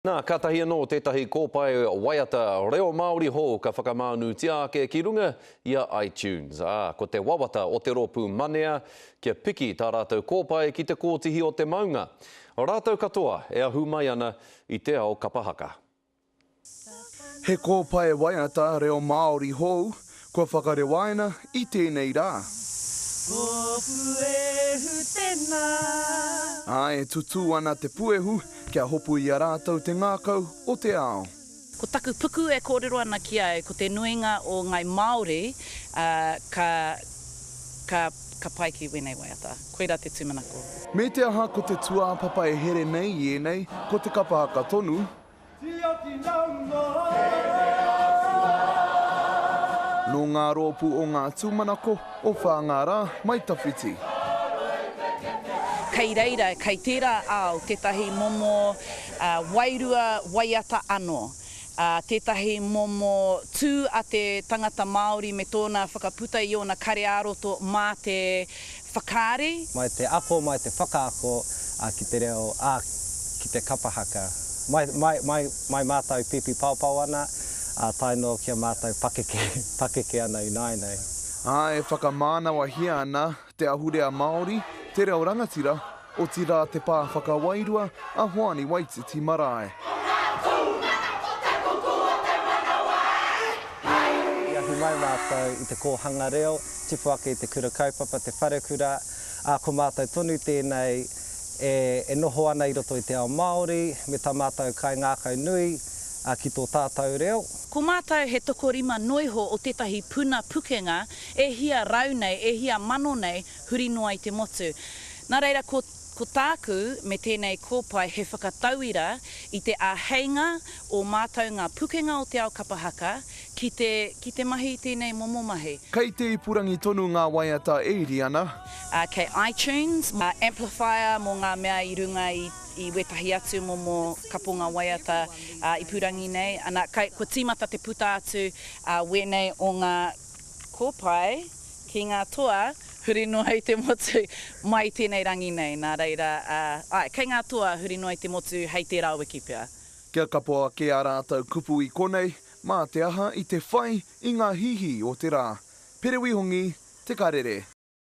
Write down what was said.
Nā, kātahi anō tētahi kōpae waiata reo Māori hou ka whakamānutia ake ki runga i a iTunes, ā, ko te wawata o te rōpū Manea kia piki tā rātou kōpae ki te kōtihi o te maunga. Rātou katoa e ahu mai ana i te ao kapa haka. He kōpae waiata reo Māori hou Kua whakarewaina i tēnei rā. Ko Puehu tēnā. Ā, e tutū ana te puehu kia hopu i a rātou te ngākau o te ao. Ko taku puku e kōrero ana ki au, ko te nuinga o ngai Māori, ā, ka, ka, ka pai ki wēnei waiata. Koirā te tūmanako. Me te aha ko te tūāpapa e here nei i ēnei, ko te kapa haka tonu, Nō ngā rōpū o ngā tūmanako o Whāngārā, Mai Tawhiti. Kei reira, kei tērā ao tētahi momo wairua waiata anō, tētahi momo tū a te tangata Māori me tōna whakaputa i ōna kare ā-roto mā te Whakaari. Mai te ako, mai te whakaako ki te reo, ā, ki te kapa haka. Mai, mai, mai, mai mātou pīpīpaopao ana, ā, tae noa ki a mātou pakeke, pakeke ana ināianei. Ā, e whakamānawahia ana te ahurea Māori, te reo rangatira, Otirā te pā whakawairua a Hoani Waititi Marae. Ko ngā tūngana ko te kuku o te manawa hei! I ahu mai mātou i te kōhanga reo, tipu ake i te kura kaupapa, te wharekura, ā, ko mātou tonu tēnei e noho ana i roto i te ao Māori me tā mātou kaingākau nui ki tō tātou reo. Ko mātou he tokorima noiho o tētahi puna pukenga e hia rau nei, e hia mano nei, huri noa i te motu. Nā reira, ko, ko tāku me tēnei kōpae he whakatauira i te āheinga o mātou ngā pukenga o te ao kapa haka ki te, ki te mahi i tēnei momo mahi. Kei te ipurangi tonu ngā waiata e iri ana. Ā, kei iTunes, ā, Amplifier mō ngā mea i runga i, i wētahi atu momo kaponga waiata, ā, ipurangi nei. Anā, kai, kua tīmata te puta atu, ā, wēnei o ngā Ko pai, ki ngā toa, huri noa i te motu, mai i tēnei rangi nei, nā reira, āe, kei ngā toa, huri noa i te motu, hei tērā wiki pea. Kia kapo ake ā rātou kupu i konei, mā te aha i te whai i ngā hīhī o te rā. Perewi Hongi, Te Karere.